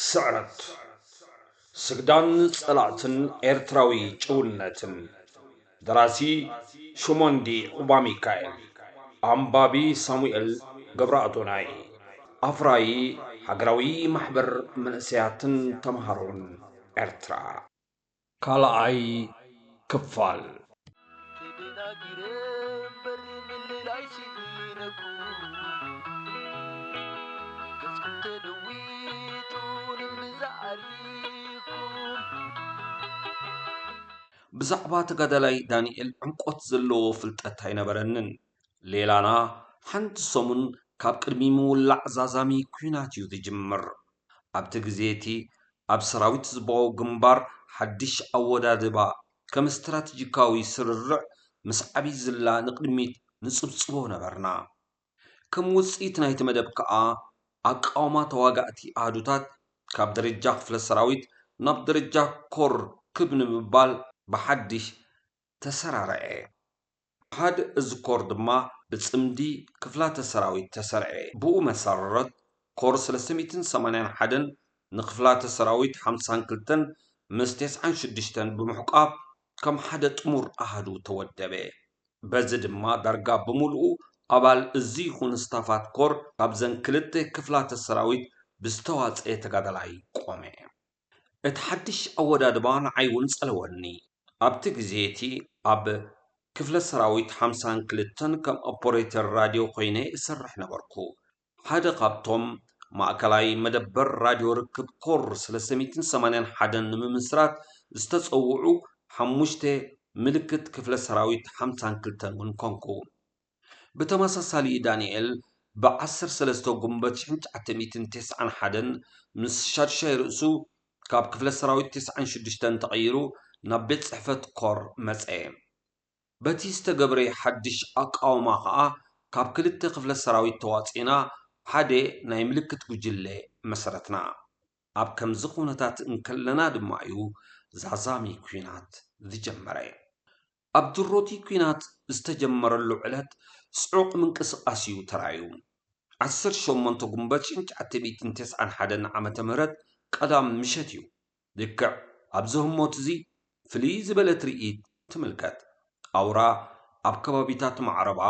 ስዕረት ስግዳን ፀላእትን ኤርትራዊ ጭውነትን ደራሲ ሹሞንዲ ዑባሚካኤል ኣንባቢ ሳሙኤል ገብረኣዶናይ ኣፍራዪ ሃገራዊ ማሕበር መንእሰያትን ተምሃሮን ኤርትራ። ካልኣይ ክፋል። ብዛዕባ ተጋዳላይ ዳኒኤል ዕምቆት ዘለዎ ፍልጠት ኣይነበረንን። ሌላና ሓንቲ ሰሙን ካብ ቅድሚ ምውላዕ ዛዛሚ ኲናት እዩ ዝጅምር። ኣብቲ ግዜ እቲ ኣብ ሰራዊት ህዝባዊ ግንባር ሓድሽ ኣወዳድባ ከም ስትራተጂካዊ ስርርዕ ምስ ዓብይ ዝላ ንቕድሚት ንጽብጽቦ ነበርና። ከም ውጽኢት ናይቲ መደብ ከኣ ኣቃውማ ተዋጋእቲ ኣሃዱታት ካብ ደረጃ ክፍለ ሰራዊት ናብ ደረጃ ኮር ክብ ንምባል ብሓድሽ ተሰራርዔ። ኣሃድ እዚ ኮር ድማ ብጽምዲ ክፍላተ ሰራዊት ተሰርዔ። ብኡ መሰረረት ኮር ስለስተ ሚእትን ሰማንያን ሓደን ንክፍላተ ሰራዊት ሓምሳን ክልተን ምስ ቴስዓን ሽዱሽተን ብምሕቋፍ ከም ሓደ ጥሙር ኣሃዱ ተወደበ። በዚ ድማ ዳርጋ ብምሉኡ ኣባል እዚ ይኹን ስታፋት ኮር ካብዘን ክልተ ክፍላተ ሰራዊት ብዝተዋጽኤ ተጋዳላይ ቆመ። እቲ ሓድሽ ኣወዳድባ ንዓይ'ውን ጸለወኒ። ኣብቲ ግዜ'ቲ ኣብ ክፍለ ሰራዊት ሓምሳን ክልተን ከም ኦፐረተር ራድዮ ኰይነ እሰርሕ ነበርኩ። ሓደ ካብቶም ማእከላይ መደበር ራድዮ ርክብ ኮር ስለስተ ሚእትን ሰማንያን ሓደን ንምምስራት ዝተጸውዑ ሓሙሽተ ምልክት ክፍለ ሰራዊት ሓምሳን ክልተን'ውን ኰንኩ። ብተመሳሳሊ ዳንኤል ብ ዓሰርተ ሰለስተ ጉንበት ሽሕን ትሽዓተ ሚእትን ተስዓን ሓደን ምስ ሻዱሻይ ርእሱ ካብ ክፍለ ሰራዊት ተስዓን ሽዱሽተን ተቐይሩ ናብ ቤት ጽሕፈት ኮር መጸ። በቲ ዝተገብረ ሓድሽ ኣቃውማ ከኣ ካብ ክልተ ክፍለ ሰራዊት ተዋጺእና ሓደ ናይ ምልክት ጉጅለ መሰረትና። ኣብ ከምዚ ኩነታት እንከለና ድማ'ዩ ዛዛሚ ኩናት ዝጀመረ። ኣብ ድሮ'ቲ ኲናት ዝተጀመረሉ ዕለት ጽዑቕ ምንቅስቓስ'ዩ ተራእዩ። ዓሰርተ ሸሞንተ ጉንበት ሽንቻተቢትን ተስዓን ሓደን ዓመተ ምህረት ቀዳም ምሸት'ዩ ልክዕ ኣብዚ ህሞት'ዚ ፍልይ ዝበለ ትርኢት ትምልከት። ኣውራ ኣብ ከባቢታት ማዕረባ፣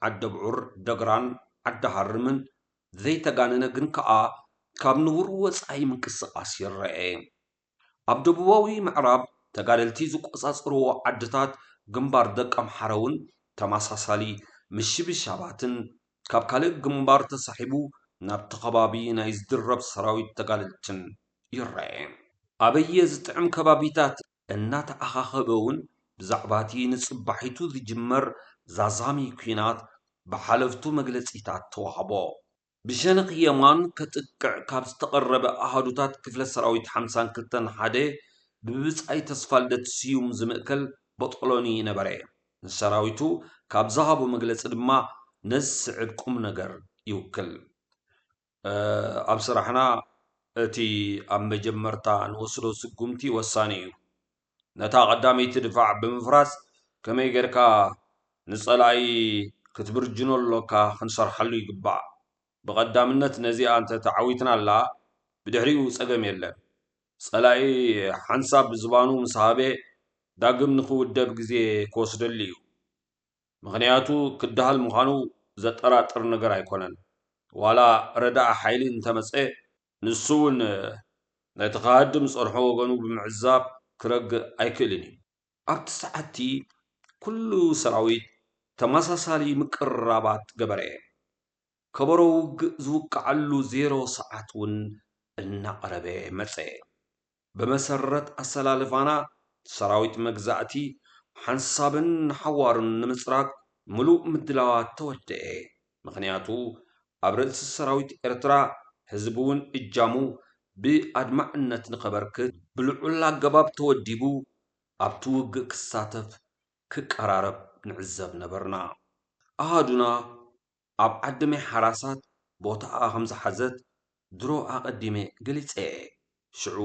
ዓደብዑር፣ ደግራን ዓዲሃርምን ዘይተጋነነ ግን ከኣ ካብ ንቡር ወጻኢ ምንቅስቓስ ይረኤ። ኣብ ደቡባዊ ምዕራብ ተጋደልቲ ዝቆፃፀርዎ ዓድታት ግንባር ደቀምሓረ ውን ተመሳሳሊ ምሽብሻባትን ካብ ካልእ ግንባር ተሳሒቡ ናብቲ ከባቢ ናይ ዝድረብ ሰራዊት ተጋደልትን ይረኤ። ኣበየ ዝጥዕም ከባቢታት እናተኣኻኸበ ውን ብዛዕባ እቲ ንፅባሒቱ ዝጅመር ዛዛሚ ኲናት ብሓለፍቱ መግለፂታት ተዋህቦ። ብሸነኽ የማን ከጥቅዕ ካብ ዝተቐረበ ኣሃዱታት ክፍለ ሰራዊት ሓምሳን ክልተን ሓደ ብብጻይ ተስፋልደት ስዩም ዝምእከል ቦጦሎኒ ነበረ። ንሰራዊቱ ካብ ዝሃቦ መግለጺ ድማ ነዚ ዝስዕብ ቁምነገር ይውክል። ኣብ ስራሕና እቲ ኣብ መጀመርታ ንወስዶ ስጉምቲ ወሳኒ እዩ። ነታ ቀዳመይቲ ድፋዕ ብምፍራስ ከመይ ጌርካ ንጸላኢ ክትብርጅኖ ኣሎካ ክንሰርሓሉ ይግባእ። ብቐዳምነት ነዚኣ እንተ ተዓዊትናላ ብድሕሪኡ ጸገም የለን። ጸላኢ ሓንሳብ ዝባኑ ምስ ሃበ ዳግም ንኽውደብ ግዜ ክወስደሉ እዩ። ምኽንያቱ ክደሃል ምዃኑ ዘጠራጥር ነገር ኣይኮነን። ዋላ ረዳኢ ሓይሊ እንተ መጸ ንሱ እውን ነቲ ክሃድም ዝጸንሖ ወገኑ ብምዕዛብ ክረግእ ኣይክእልን እዩ። ኣብቲ ሰዓት'ቲ ኩሉ ሰራዊት ተመሳሳሊ ምቅርራባት ገበረ። ከበሮ ውግእ ዝውቅዓሉ ዜሮ ሰዓት እውን እናቐረበ መጸ። ብመሰረት ኣሰላልፋና ሰራዊት መግዛእቲ ሓንሳብን ንሓዋሩን ንምጽራግ ምሉእ ምድላዋት ተወደኤ። ምኽንያቱ ኣብ ርእሲ ሰራዊት ኤርትራ ህዝቢ'ውን እጃሙ ብኣድማዕነት ንኸበርክት፣ ብልዑል ኣገባብ ተወዲቡ ኣብ'ቲ ውግእ ክሳተፍ ክቀራረብ ንዕዘብ ነበርና። ኣሃዱና ኣብ ዓድመይ ሓራሳት ቦታኣ ከም ዝሓዘት ድሮ ኣቐዲመ ገሊጸ'የ። ሽዑ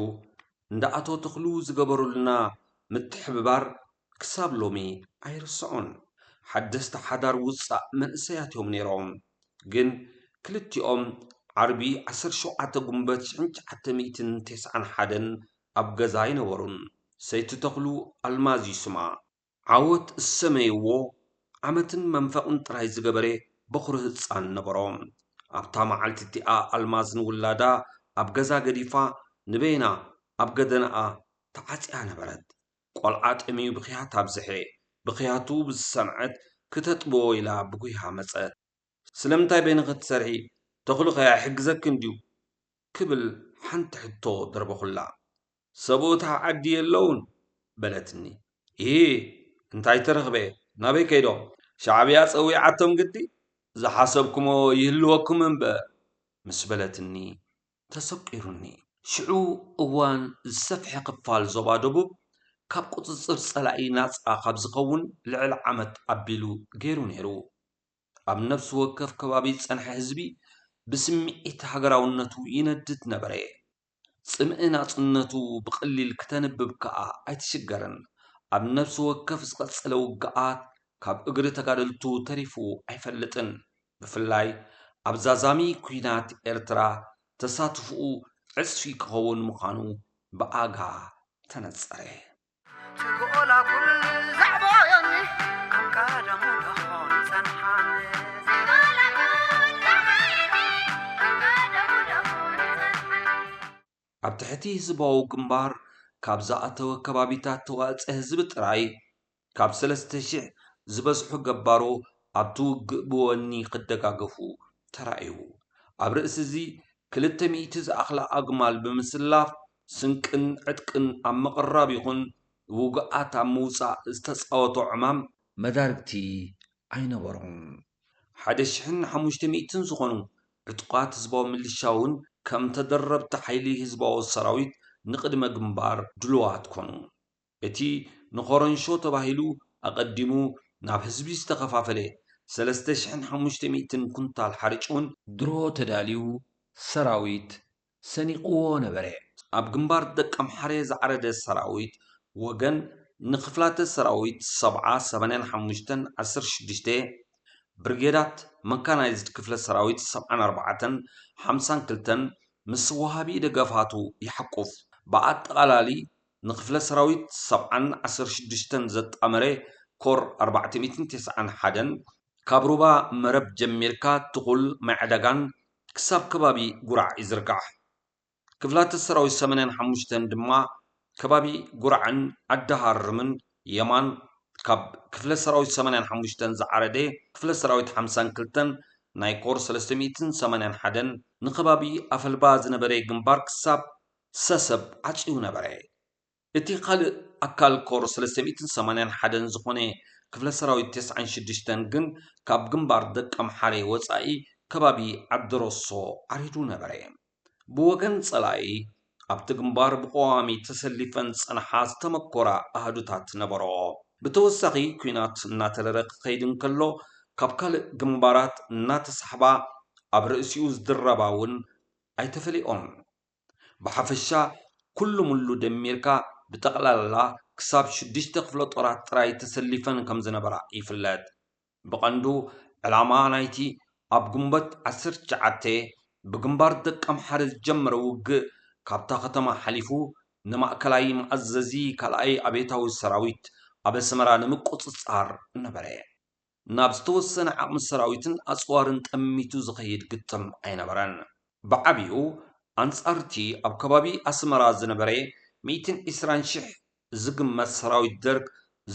እንዳ ኣቶ ተኽሉ ዝገበሩልና ምትሕብባር ክሳብ ሎሚ ኣይርስዖን። ሓደስቲ ሓዳር ውጻእ መንእሰያት'ዮም ነይሮም። ግን ክልቲኦም ዓርቢ ዓሰርተ ሸውዓተ ጉንበት ሽሕን ትሽዓተ ሚእትን ተስዓን ሓደን ኣብ ገዛ ኣይነበሩን። ሰይቲ ተኽሉ ኣልማዝ'ዩ ስማ። ዓወት ዝሰመይዎ ዓመትን መንፈቕን ጥራይ ዝገበረ በዅሪ ህጻን ነበሮ። ኣብታ መዓልቲ እቲኣ ኣልማዝ ንውላዳ ኣብ ገዛ ገዲፋ ንበይና ኣብ ገደናኣ ተዓጽያ ነበረት። ቈልዓ ጠምዩ ብኽያት ኣብዝሐ። ብኽያቱ ብዝሰምዐት ክተጥብዎ ኢላ ብጕያ መጸት። ስለምንታይ በይንኺ ትሰርሒ? ተኽሉኸ ኣይሕግዘክን ድዩ? ክብል ሓንቲ ሕቶ ደርበኹላ። ሰብኡታ ዓዲ የለዉን? በለትኒ። ኢሂ! እንታይ ተረኽበ? ናበይ ከይዶም? ሻዕብያ ጸዊዓቶም ግዲ? ዝሓሰብኩሞ ይህልወኩም እምበር! ምስ በለትኒ ተሰቊሩኒ። ሽዑ እዋን ዝሰፍሐ ክፋል ዞባ ደቡብ ካብ ቁጽጽር ጸላኢ ናጻ ካብ ዝኸውን ልዕሊ ዓመት ኣቢሉ ገይሩ ነይሩ። ኣብ ነፍሲ ወከፍ ከባቢ ዝጸንሐ ህዝቢ ብስምዒት ሃገራውነቱ ይነድድ ነበረ። ጽምኢ ናጽነቱ ብቐሊል ክተንብብ ከኣ ኣይትሽገርን። ኣብ ነፍሲ ወከፍ ዝቐጸለ ውግኣት ካብ እግሪ ተጋደልቱ ተሪፉ ኣይፈልጥን። ብፍላይ ኣብ ዛዛሚ ኲናት ኤርትራ ተሳትፎኡ ዕጽፊ ክኸውን ምዃኑ ብኣጋ ተነጸረ። ኣብ ትሕቲ ህዝባዊ ግንባር ካብ ዝኣተወ ከባቢታት ተዋፀ ህዝቢ ጥራይ ካብ ሰለስተ ሽሕ ዝበዝሑ ገባሮ ኣብቲ ውግእ ብወኒ ክደጋገፉ ተራእዩ። ኣብ ርእሲ እዚ ክልተ ሚእቲ ዝኣኽላ ኣግማል ብምስላፍ ስንቅን ዕጥቅን ኣብ ምቕራብ ይኹን ውጉኣት ኣብ ምውጻእ ዝተጻወቶ ዕማም መዳርግቲ ኣይነበሮን። ሓደ ሽሕን ሓሙሽተ ሚእትን ዝኾኑ ዕጡቓት ህዝባዊ ምልሻ ውን ከም ተደረብቲ ሓይሊ ህዝባዊ ሰራዊት ንቕድመ ግንባር ድሉዋት ኮኑ። እቲ ንኮረንሾ ተባሂሉ ኣቐዲሙ ናብ ህዝቢ ዝተኸፋፈለ ሰለስተ ሽሕን ሓሙሽተ ሚእትን ኩንታል ሓርጭ ውን፣ ድሮ ተዳልዩ ሰራዊት ሰኒቕዎ ነበረ። ኣብ ግንባር ደቀምሓረ ዝዓረደ ሰራዊት ወገን ንክፍላተ ሰራዊት ሰብዓ፣ ሰማንያን ሓሙሽተን፣ ዓሰርተ ሽዱሽተ፣ ብርጌዳት፣ መካናይዝድ ክፍለ ሰራዊት ሰብዓን ኣርባዕተን፣ ሓምሳን ክልተን ምስ ወሃቢ ደገፋቱ ይሓቁፍ። ብኣጠቓላሊ ንክፍለ ሰራዊት ሰብዓን ዓሰርተ ሽዱሽተን ዘጣመረ ኮር ኣርባዕተ ሚእትን ተስዓን ሓደን፣ ካብ ሩባ መረብ ጀሚርካ ትኹል ማይዕዳጋን ክሳብ ከባቢ ጉራዕ ይዝርጋሕ። ክፍላተ ሰራዊት ሰመነን ሓሙሽተን ድማ ከባቢ ጉራዕን ዓዲ ሃርምን የማን ካብ ክፍለ ሰራዊት ሰመነን ሓሙሽተን ዝዓረደ ክፍለ ሰራዊት ሓምሳን ክልተን ናይ ኮር ሰለስተ ሚእትን ሰማንያን ሓደን ንከባቢ ኣፈልባ ዝነበረ ግንባር ክሳብ ሰሰብ ዓጽዩ ነበረ። እቲ ካልእ ኣካል ኮር ሰለስተ ሚእትን ሰማንያን ሓደን ዝኾነ ክፍለ ሰራዊት ተስዓን ሽዱሽተን ግን ካብ ግንባር ደቀምሓረ ወጻኢ ከባቢ ዓዲሮሶ ዓሪዱ ነበረ። ብወገን ጸላኢ ኣብቲ ግንባር ብቐዋሚ ተሰሊፈን ዝጸንሓ ዝተመኮራ ኣሃዱታት ነበርኦ። ብተወሳኺ ኲናት እናተረረ ክኸይድ እንከሎ ካብ ካልእ ግንባራት እናተሳሕባ ኣብ ርእሲኡ ዝድረባ እውን ኣይተፈለዮኦን። ብሓፈሻ ኩሉምሉ ደሚርካ ብጠቕላላ ክሳብ ሽዱሽተ ክፍለጦራት ጥራይ ተሰሊፈን ከምዝነበራ ይፍለጥ። ብቐንዱ ዕላማ ናይቲ ኣብ ግንቦት ዓሰርተ ትሽዓተ ብግንባር ደቀምሓረ ዝጀመረ ውግእ ካብታ ከተማ ሓሊፉ ንማእከላይ መኣዘዚ ካልኣይ ኣብዮታዊ ሰራዊት ኣብ ኣስመራ ንምቁጽጻር ነበረ። ናብ ዝተወሰነ ዓቕሚ ሰራዊትን ኣጽዋርን ጠሚቱ ዝኸይድ ግጥም ኣይነበረን። ብዓቢኡ ኣንጻር'ቲ ኣብ ከባቢ ኣስመራ ዝነበረ ሚእትን ዕስራን ሽሕ ዝግመት ሰራዊት ደርግ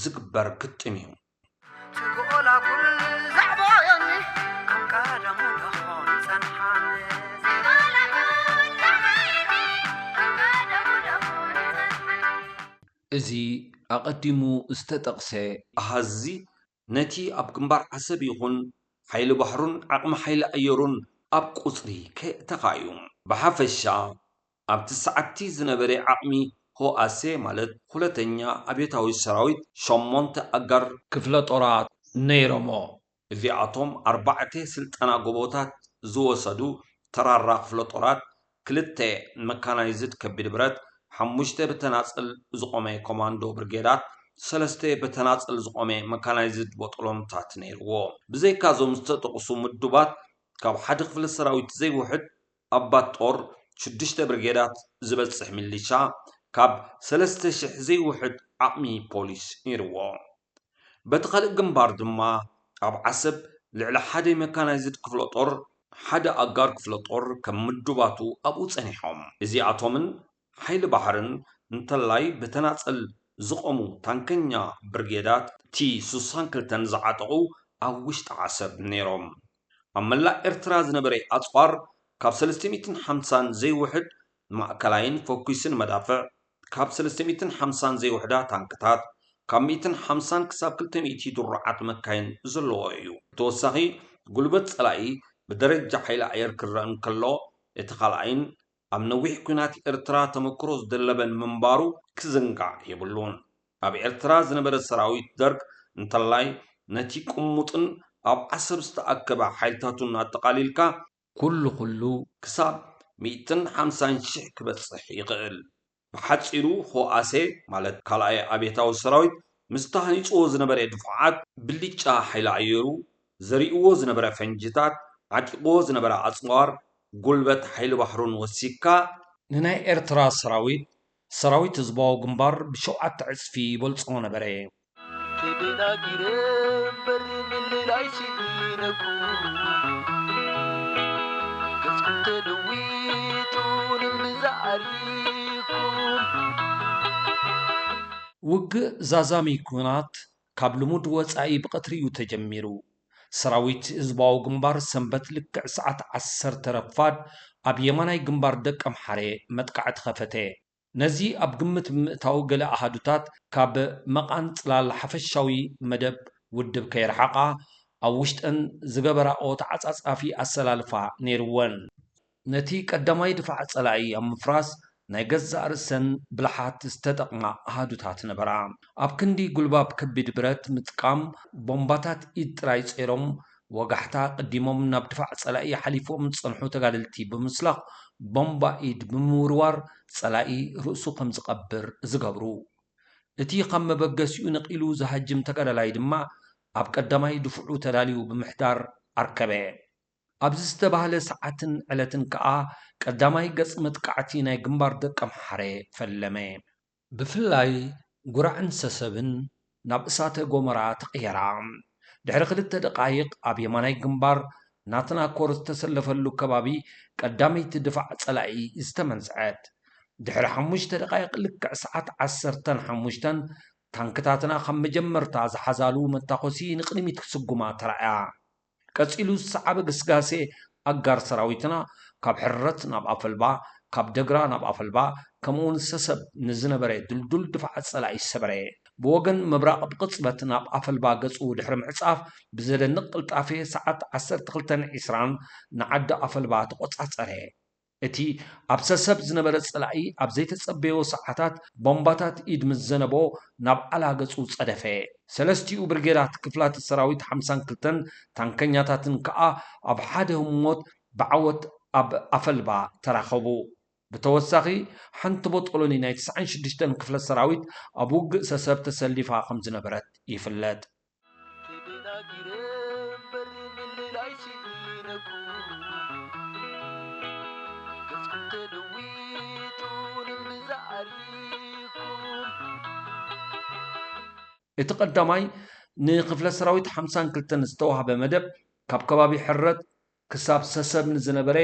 ዝግበር ግጥም እዩ። እዚ ኣቐዲሙ ዝተጠቕሰ ኣሃዝ'ዚ፣ ነቲ ኣብ ግንባር ዓሰብ ይኹን ሓይሊ ባሕሩን ዓቕሚ ሓይሊ ኣየሩን ኣብ ቁጽሪ ከየእተኻ'ዩ። ብሓፈሻ፣ ኣብ'ቲ ሰዓት'ቲ ዝነበረ ዓቕሚ ህውኣሰ፣ ማለት ሁለተኛ ኣብዮታዊ ሰራዊት፣ ሸሞንተ ኣጋር፣ ክፍለጦራት ነይሮሞ፣ እዚኣቶም ኣርባዕተ ስልጠና ጎቦታት ዝወሰዱ ተራራ ክፍለጦራት፣ ክልተ ንመካናይዝድ ከቢድ ብረት፣ ሓሙሽተ ብተናጽል ዝቖመ ኮማንዶ ብርጌዳት፣ ሰለስተ ብተናጽል ዝቖመ መካናይዝድ ቦጦሎንታት ነይርዎ። ብዘይካ እዞም ዝተጠቕሱ ምዱባት ካብ ሓደ ክፍለ ሰራዊት ዘይውሕድ ኣባት ጦር፣ ሽዱሽተ ብርጌዳት ዝበጽሕ ሚሊሻ፣ ካብ ሰለስተ ሽሕ ዘይውሕድ ዓቕሚ ፖሊስ ነይርዎ። በቲ ካልእ ግንባር ድማ ኣብ ዓሰብ ልዕሊ ሓደ ሜካናይዝድ ክፍለ ጦር፣ ሓደ ኣጋር ክፍለ ጦር ከም ምዱባቱ ኣብኡ ጸኒሖም። እዚኣቶምን ሓይሊ ባሕርን እንተላይ ብተናጸል ዝቖሙ ታንከኛ ብርጌዳት ቲ ስሳን ክልተን ዝዓጠቑ ኣብ ውሽጢ ዓሰብ ነይሮም። ኣብ መላእ ኤርትራ ዝነበረ ኣጽዋር ካብ ሰለስተ ሚእትን ሓምሳን ዘይውሕድ ማእከላይን ፈኲስን መዳፍዕ፣ ካብ ሰለስተ ሚእትን ሓምሳን ዘይውሕዳ ታንክታት፣ ካብ ሚእትን ሓምሳን ክሳብ ክልተ ሚእቲ ድሩዓት መካይን ዘለዎ እዩ። ብተወሳኺ፣ ጉልበት ጸላኢ ብደረጃ ሓይሊ ኣየር ክረኣ እንከሎ፣ እቲ ካልኣይን ኣብ ነዊሕ ኲናት ኤርትራ ተመክሮ ዝደለበን ምንባሩ ክዝንጋዕ የብሉን። ኣብ ኤርትራ ዝነበረ ሰራዊት ደርግ እንተላይ ነቲ ቅሙጥን ኣብ ዓሰብ ዝተኣከበ ሓይልታቱን ኣጠቓሊልካ፣ ኩሉ ኩሉ ክሳብ ሚእትን ሓምሳን ሽሕ ክበጽሕ ይኽእል። ብሓጺሩ ህውኣሴ ማለት ካልኣይ ኣብዮታዊ ሰራዊት ምስ ተሃኒጽዎ ዝነበረ ድፉዓት ብልጫ ሓይሊ ኣየሩ፣ ዘሪእዎ ዝነበረ ፈንጂታት፣ ዓጢቕዎ ዝነበረ ኣጽዋር፣ ጉልበት ሓይሊ ባሕሩን ወሲኽካ፣ ንናይ ኤርትራ ሰራዊት ሰራዊት ህዝባዊ ግንባር ብሸውዓተ ዕጽፊ ይበልጾ ነበረ። ተደናጊረ እምበር ምልላይ ስኢነኩ ገጽኩም ተለዊጡ ንምንዛ ዓሪኩም። ውግእ ዛዛሚ ኩናት ካብ ልሙድ ወፃኢ ብቐትሪ እዩ ተጀሚሩ። ሰራዊት ህዝባዊ ግንባር ሰንበት ልክዕ ሰዓት ዓሰርተ ረፋድ ኣብ የማናይ ግንባር ደቀምሓረ መጥቃዕቲ ከፈተ። ነዚ ኣብ ግምት ብምእታው ገለ ኣሃዱታት ካብ መቓን ፅላል ሓፈሻዊ መደብ ውድብ ከይረሓቓ ኣብ ውሽጠን ዝገበራኦ ተዓፃፃፊ ኣሰላልፋ ነይሩወን። ነቲ ቀዳማይ ድፋዕ ጸላኢ ኣብ ምፍራስ ናይ ገዛእ ርእሰን ብልሓት ዝተጠቕማ ኣሃዱታት ነበራ። ኣብ ክንዲ ጉልባብ ከቢድ ብረት ምጥቃም፣ ቦምባታት ኢድ ጥራይ ጸይሮም ወጋሕታ ኣቐዲሞም ናብ ድፋዕ ጸላኢ ሓሊፎም ዝጸንሑ ተጋደልቲ ብምስላኽ ቦምባ ኢድ ብምውርዋር ጸላኢ ርእሱ ከም ዝቐብር ዝገብሩ። እቲ ካብ መበገሲኡ ነቒሉ ዝሃጅም ተጋዳላይ ድማ ኣብ ቀዳማይ ድፍዑ ተዳልዩ ብምሕዳር ኣርከበ። ኣብዚ ዝተባህለ ሰዓትን ዕለትን ከኣ ቀዳማይ ገጽ መጥቃዕቲ ናይ ግንባር ደቀምሓረ ፈለመ። ብፍላይ ጉራዕን ሰሰብን ናብ እሳተ ጎመራ ተቐየራ። ድሕሪ ክልተ ደቓይቕ ኣብ የማናይ ግንባር ናትና ኮር ዝተሰለፈሉ ከባቢ ቀዳመይቲ ድፋዕ ጸላኢ ዝተመንዝዐት። ድሕሪ ሓሙሽተ ደቓይቕ ልክዕ ሰዓት ዓሰርተን ሓሙሽተን ታንክታትና ካብ መጀመርታ ዝሓዛሉ መታኮሲ ንቕድሚት ክስጉማ ተራእያ። ቀጺሉ ዝሰዓበ ግስጋሴ ኣጋር ሰራዊትና ካብ ሕርረት ናብ ኣፈልባ፣ ካብ ደግራ ናብ ኣፈልባ ከምኡውን ሰሰብ ንዝነበረ ድልዱል ድፋዓት ጸላኢ ሰበረ። ብወገን ምብራቕ ብቕጽበት ናብ ኣፈልባ ገጹ ድሕሪ ምዕጻፍ ብዘደንቕ ቅልጣፌ ሰዓት ዓሰርተ ክልተን ዒስራን ንዓዲ ኣፈልባ ተቖጻጸረ። እቲ ኣብ ሰሰብ ዝነበረ ጸላኢ ኣብ ዘይተጸበዮ ሰዓታት ቦምባታት ኢድ ምስ ዘነቦ ናብ ዓላ ገጹ ጸደፈ። ሰለስቲኡ ብርጌዳት ክፍላተ ሰራዊት ሓምሳን ክልተን ታንከኛታትን ከኣ ኣብ ሓደ ህሞት ብዓወት ኣብ ኣፈልባ ተራኸቡ። ብተወሳኺ ሓንቲ ቦጦሎኒ ናይ ትስዓን ሽዱሽተን ክፍለ ሰራዊት ኣብ ውግእ ሰሰብ ተሰሊፋ ከምዝነበረት ይፍለጥ። እቲ ቀዳማይ ንክፍለ ሰራዊት ሓምሳን ክልተን ዝተዋህበ መደብ ካብ ከባቢ ሕረት ክሳብ ሰሰብ ንዝነበረ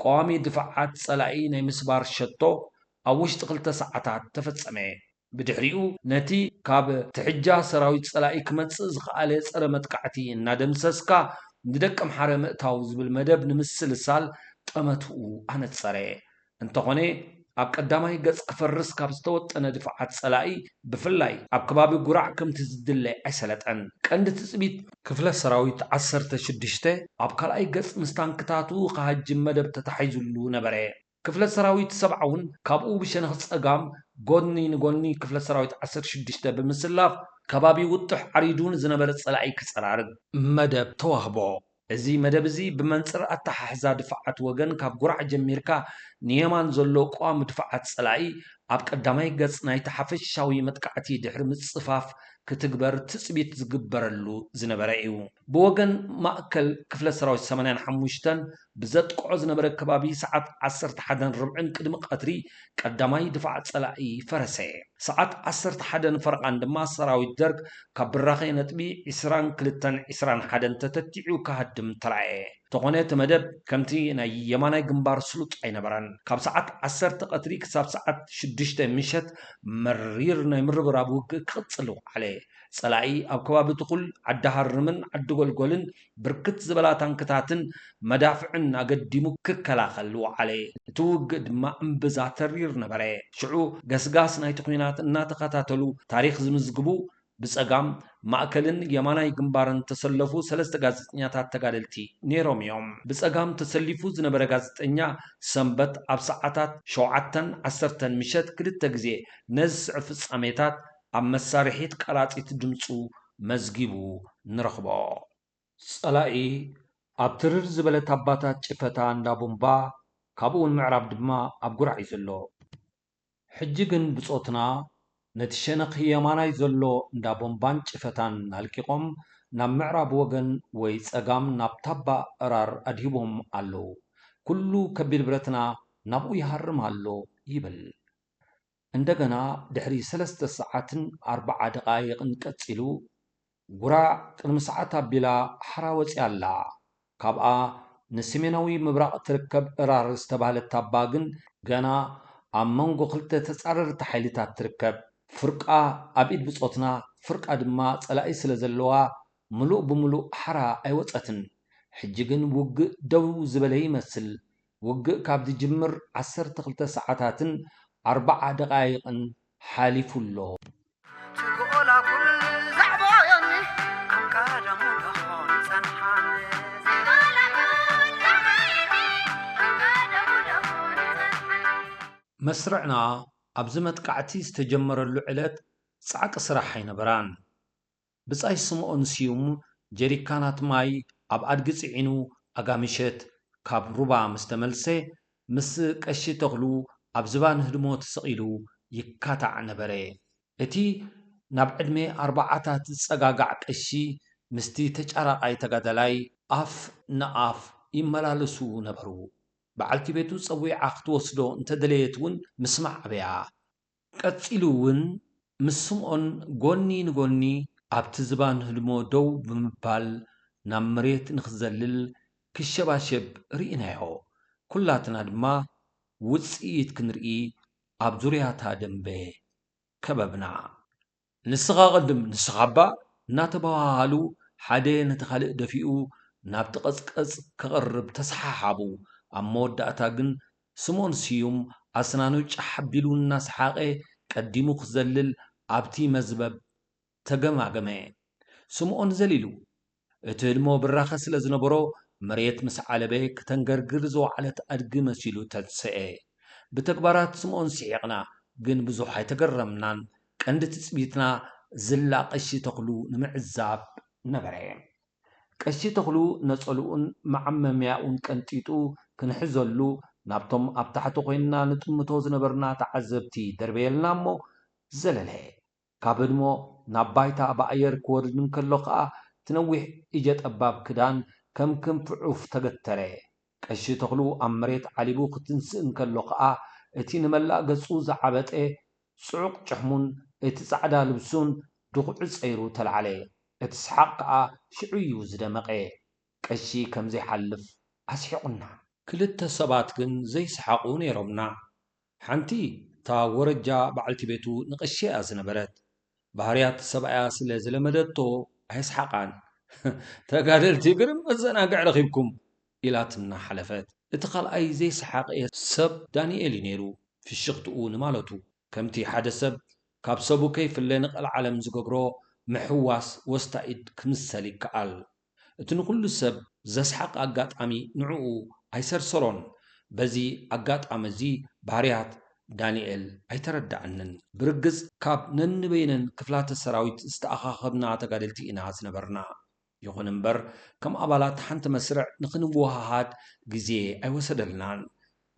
ቀዋሚ ድፋዓት ፀላኢ ናይ ምስባር ሸቶ ኣብ ውሽጢ ክልተ ሰዓታት ተፈፀመ። ብድሕሪኡ ነቲ ካብ ትሕጃ ሰራዊት ጸላኢ ክመጽእ ዝኸኣለ ጸረ መጥቃዕቲ እናደምሰስካ ንደቀምሓረ ምእታው ዝብል መደብ ንምስልሳል ጠመትኡ ኣነጸረ። እንተኾነ ኣብ ቀዳማይ ገጽ ክፈርስ ካብ ዝተወጠነ ድፋዓት ጸላኢ ብፍላይ ኣብ ከባቢ ጉራዕ ከምቲ ዝድለ ኣይሰለጠን። ቀንዲ ትጽቢት፣ ክፍለ ሰራዊት ዓሰርተ ሽዱሽተ ኣብ ካልኣይ ገጽ ምስ ታንክታቱ ክሃጅም መደብ ተታሒዙሉ ነበረ። ክፍለ ሰራዊት ሰብዓውን ካብኡ ብሸነኽ ፀጋም ጎድኒ ንጎኒ ክፍለ ሰራዊት ዓሰርተ ሽዱሽተ ብምስላፍ ከባቢ ውጡሕ ዓሪዱ ንዝነበረ ፀላኢ ክፀራርግ መደብ ተዋህቦ። እዚ መደብ እዚ ብመንፅር ኣተሓሕዛ ድፋዓት ወገን ካብ ጉራዕ ጀሚርካ ንየማን ዘሎ ቀዋሚ ድፋዓት ፀላኢ ኣብ ቀዳማይ ገፅ ናይቲ ሓፈሻዊ መጥቃዕቲ ድሕሪ ምፅፋፍ ክትግበር ትፅቢት ዝግበረሉ ዝነበረ እዩ። ብወገን ማእከል ክፍለ ሰራዊት ሰማንያን ሓሙሽተን ብዘጥቅዖ ዝነበረ ከባቢ ሰዓት ዓሰርተ ሓደን ርብዕን ቅድሚ ቀትሪ ቀዳማይ ድፋዕ ፀላኢ ፈረሰ። ሰዓት ዓሰርተ ሓደን ፈረቓን ድማ ሰራዊት ደርግ ካብ ብራኸ ነጥቢ ዕስራን ክልተን ዕስራን ሓደን ተተኪዑ ክሃድም ተራእየ። ተኾነ እቲ መደብ ከምቲ ናይ የማናይ ግንባር ስሉጥ ኣይነበረን። ካብ ሰዓት ዓሰርተ ቀትሪ ክሳብ ሰዓት ሽዱሽተ ምሸት መሪር ናይ ምርብራብ ውግእ ክቕፅል ወዓለ። ፀላኢ ኣብ ከባቢ ትኹል፣ ዓዲ ሃርምን ዓዲ ጎልጎልን ብርክት ዝበላ ታንክታትን መዳፍዕን ኣገዲሙ ክከላኸል ወዓለ። እቲ ውግእ ድማ እምብዛ ተሪር ነበረ። ሽዑ ገስጋስ ናይቲ ኲናት እናተኸታተሉ ታሪኽ ዝምዝግቡ ብጸጋም፣ ማእከልን የማናይ ግንባርን እተሰለፉ ሰለስተ ጋዜጠኛታት ተጋደልቲ ነይሮም እዮም። ብጸጋም ተሰሊፉ ዝነበረ ጋዜጠኛ ሰንበት ኣብ ሰዓታት ሸውዓተን ዓሰርተን ምሸት ክልተ ግዜ ነዚ ዝስዕብ ፍጻሜታት ኣብ መሳርሒት ቀላጺት ድምጹ መዝጊቡ ንረኽቦ። ጸላኢ ኣብ ትርር ዝበለ ታባታት ጭፈታ እንዳ ቡምባ ካብኡውን ምዕራብ ድማ ኣብ ጉራዕ እዩ ዘሎ። ሕጂ ግን ብጾትና ነቲ ሸነኽ የማናይ ዘሎ እንዳ ቦምባን ጭፈታን ኣልቂቖም ናብ ምዕራብ ወገን ወይ ጸጋም ናብ ታባ እራር ኣድሂቦም ኣለዉ። ኩሉ ከቢድ ብረትና ናብኡ ይሃርም ኣሎ ይብል። እንደገና ድሕሪ ሰለስተ ሰዓትን ኣርባዓ ደቓይቕን ቀጺሉ፣ ጉራ ቅድሚ ሰዓት ኣቢላ ሓራ ወጺኣ ኣላ። ካብኣ ንስሜናዊ ምብራቕ እትርከብ እራር ዝተባህለት ታባ ግን ገና ኣብ መንጎ ክልተ ተጻረርቲ ሓይልታት ትርከብ። ፍርቃ ኣብ ኢድ ብጾትና፣ ፍርቃ ድማ ጸላኢ ስለ ዘለዋ ምሉእ ብምሉእ ሓራ ኣይወጸትን። ሕጂ ግን ውግእ ደው ዝበለ ይመስል፣ ውግእ ካብ ዝጅምር ዓሰርተ ክልተ ሰዓታትን ኣርባዓ ደቓይቕን ሓሊፉ ኣሎ። መስርዕና ኣብዚ መጥቃዕቲ ዝተጀመረሉ ዕለት ጻዕቂ ስራሕ ኣይነበራን። ብጻይ ስምኦን ስዩም ጀሪካናት ማይ ኣብ ኣድጊ ጽዒኑ ኣጋምሸት ካብ ሩባ ምስ ተመልሰ፣ ምስ ቀሺ ተኽሉ ኣብ ዝባን ህድሞ ተሰቒሉ ይካታዕ ነበረ። እቲ ናብ ዕድመ ኣርባዓታት ዝጸጋጋዕ ቀሺ ምስቲ ተጫራቓይ ተጋዳላይ ኣፍ ንኣፍ ይመላለሱ ነበሩ። በዓልቲ ቤቱ ጸዊዓ ክትወስዶ እንተደለየት እውን ምስማዕ ኣበያ። ቀጺሉ እውን ምስ ስምኦን ጎኒ ንጎኒ ኣብቲ ዝባን ህድሞ ደው ብምባል ናብ መሬት ንኽዘልል ክሸባሸብ ርኢናዮ። ኩላትና ድማ ውጽኢት ክንርኢ ኣብ ዙርያ'ታ ደምበ ከበብና። ንስኻ ቅድም ንስኻ'ባ እናተበሃሃሉ ሓደ ነቲ ካልእ ደፊኡ ናብቲ ቀጽቀጽ ከቕርብ ተሰሓሓቡ። ኣብ መወዳእታ ግን ስምኦን ስዩም ኣስናኑ ጫሕ ኣቢሉ እናሰሓቐ ቀዲሙ ክዘልል ኣብቲ መዝበብ ተገማገመ። ስምኦን ዘሊሉ። እቲ ህድሞ ብራኸ ስለ ዝነበሮ፣ መሬት ምስ ዓለበ ክተንገርግር ዝወዓለት ኣድጊ መሲሉ ተንስኤ። ብተግባራት ስምኦን ስሒቕና፣ ግን ብዙሕ ኣይተገረምናን። ቀንዲ ትጽቢትና ዝላ ቀሺ ተኽሉ ንምዕዛብ ነበረ። ቀሺ ተኽሉ ነጸልኡን መዓመምያኡን ቀንጢጡ ክንሕዘሉ ናብቶም ኣብ ታሕቲ ኮይንና ንጥምቶ ዝነበርና ተዓዘብቲ ደርበየልና እሞ ዘለለ። ካብ ህድሞ ናብ ባይታ ብኣየር ክወርድ እንከሎ ከኣ እቲ ነዊሕ እጀ ጠባብ ክዳን ከም ክንፊ ዑፍ ተገተረ። ቀሺ ተኽሉ ኣብ መሬት ዓሊቡ ክትንስእ እንከሎ ከኣ እቲ ንመላእ ገጹ ዝዓበጠ ጽዑቕ ጭሕሙን እቲ ጻዕዳ ልብሱን ድኹዒ ጸይሩ ተላዕለ። እቲ ሰሓቕ ከኣ ሽዑ'ዩ ዝደመቐ። ቀሺ ከም ዘይሓልፍ ኣስሒቑና። ክልተ ሰባት ግን ዘይሰሓቑ ነይሮምና። ሓንቲ እታ ወረጃ በዓልቲ ቤቱ ንቐሺ'ያ ዝነበረት። ባህርያት ሰብኣያ ስለ ዝለመደቶ ኣየስሓቓን። ተጋደልቲ ግርም መዘናግዒ ረኺብኩም! ኢላትና ሓለፈት። እቲ ካልኣይ ዘይሰሓቐ ሰብ ዳኒኤል'ዩ ነይሩ። ፍሽኽትኡ ንማለቱ፣ ከምቲ ሓደ ሰብ ካብ ሰቡ ከይፍለ ንቐልዓለም ዝገብሮ ምሕዋስ ወስታ ኢድ ክምሰል ይከኣል። እቲ ንኹሉ ሰብ ዘስሓቐ ኣጋጣሚ ንዕኡ ኣይሰርሰሮን። በዚ ኣጋጣሚ እዚ ባህርያት ዳኒኤል ኣይተረዳኣንን። ብርግጽ ካብ ነንበይነን ክፍላተ ሰራዊት ዝተኣኻኸብና ተጋደልቲ ኢና ዝነበርና። ይኹን እምበር ከም ኣባላት ሓንቲ መስርዕ ንኽንወሃሃድ ግዜ ኣይወሰደልናን።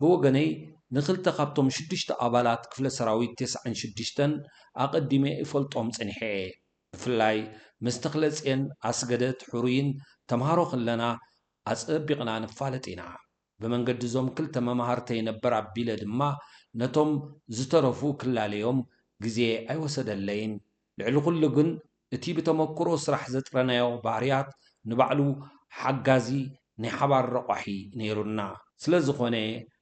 ብወገነይ ንኽልተ ካብቶም ሽዱሽተ ኣባላት ክፍለ ሰራዊት ቴስዓን ሽዱሽተን ኣቐዲመ እፈልጦም ጸኒሐ እየ። ብፍላይ ምስ ተኽለጼን ኣስገደት ሕሩይን ተምሃሮ ክለና ኣጸቢቕና ንፋለጥ ኢና። ብመንገዲ እዞም ክልተ መማህርተይ ነበር ኣቢለ ድማ ነቶም ዝተረፉ ክላለዮም ግዜ ኣይወሰደለይን። ልዕሊ ኩሉ ግን እቲ ብተመኩሮ ስራሕ ዘጥረናዮ ባህርያት ንባዕሉ ሓጋዚ ናይ ሓባር ረቋሒ ነይሩና። ስለዝኾነ